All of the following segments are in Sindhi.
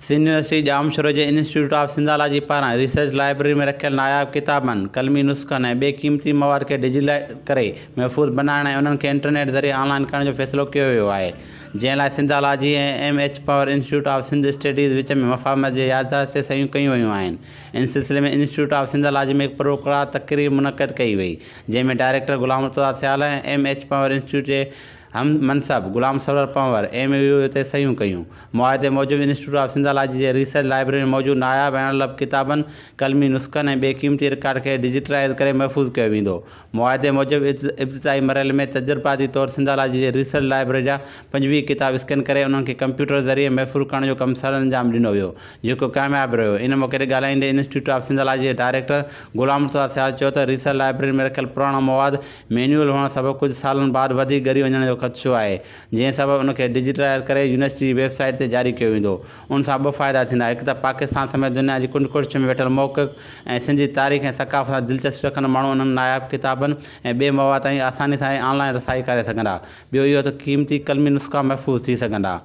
سنڌ يونيورسٽي ڄامشورو جي انسٽيٽيوٽ آف سنڌالاجي پاران ريسرچ لائبرري ۾ رکيل ناياب ڪتابن، قلمي نسخن ۽ ٻئي قيمتي مواد کي ڊجيٽلائيز ڪري محفوظ بنائڻ ۽ انهن کي انٽرنيٽ ذريعي آن لائين ڪرڻ جو فيصلو ڪيو ويو آهي، جنهن لاء Sindhology ۽ M H Panhwar institute of Sindh studies وچ ۾ مفاهمت جي يادداشت تي صحيحون ڪيون ويون آهن. ان سلسلي ۾ انسٽيٽيوٽ آف سنڌالاجي ۾ هڪ پروقرار تقريب منعقد ڪئي وئي، جنهن ۾ director Ghulam Murtaza Sial ۽ M H Panhwar institute جي هم منصب Ghulam Sarwar Panhwar M O U تي صحيحون ڪيون. معاهدي موجب انسٽيٽيوٽ آف سنڌالاجي جي ريسرچ لائبرري ۾ موجود ناياب ۽ اڻلڀ ڪتابن، قلمي نسخن ۽ ٻئي قيمتي رڪارڊ کي ڊجيٽلائيز ڪري محفوظ ڪيو ويندو. معاهدي موجب ابتدائي مرحلي ۾ تجرباتي طور سنڌالاجي جي ريسرچ لائبرري جا پنجويهه ڪتاب اسڪين ڪري انهن کي ڪمپيوٽر ذريعي محفوظ ڪرڻ جو ڪم سرانجام ڏنو ويو جيڪو ڪامياب رهيو. ان موقعي تي ڳالهائيندي انسٽيٽيوٽ آف سنڌالاجي جي ڊائريڪٽر غلام مصطفيٰ سيال چيو ته ريسرچ لائبرري ۾ رکيل پراڻو مواد مينيول هئڻ سبب ڪجهه سالن بعد وڌيڪ ڳري وڃڻ جو خدشو آهي، جنهن سبب ان کي ڊجيٽلائيز ڪري يونيورسٽي جي ويب سائيٽ تي جاري ڪيو ويندو. ان سان ٻه فائدا ٿيندا، هڪ ته پاڪستان سميت دنيا جي ڪنڊ ڪڙڇ ۾ ويٺل محقق ۽ سنڌ جي تاريخ ۽ ثقافت سان دلچسپي رکندڙ ماڻهو انهن ناياب ڪتابن ۽ ٻئي مواد تائين آساني سان ۽ آن لائين رسائي ڪري سگهندا، ٻيو اهو ته قيمتي قلمي نسخا محفوظ ٿي سگهندا.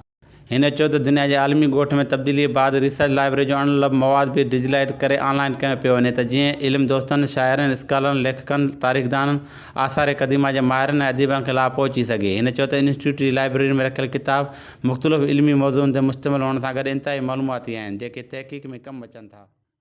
هن چيو ته دنيا جي عالمي ڳوٺ ۾ تبديليء بعد ريسرچ لائبرري جو اڻ لڀ مواد به ڊجيلائيٽ ڪري آن لائين ڪيو پيو وڃي ته جيئن علم دوستن، شاعرن، اسڪالرن، ليکڪن، تاريخدانن، آثار قديمه جي ماهرن ۽ اديبن کي لاڀ پهچي سگهي. هن چيو ته انسٽيٽيوٽ جي لائبرري ۾ رکيل ڪتاب مختلف علمي موضوعن تي مشتمل هئڻ سان گڏ انتهائي معلوماتي آهن، جيڪي تحقيق ۾ ڪم اچن ٿا.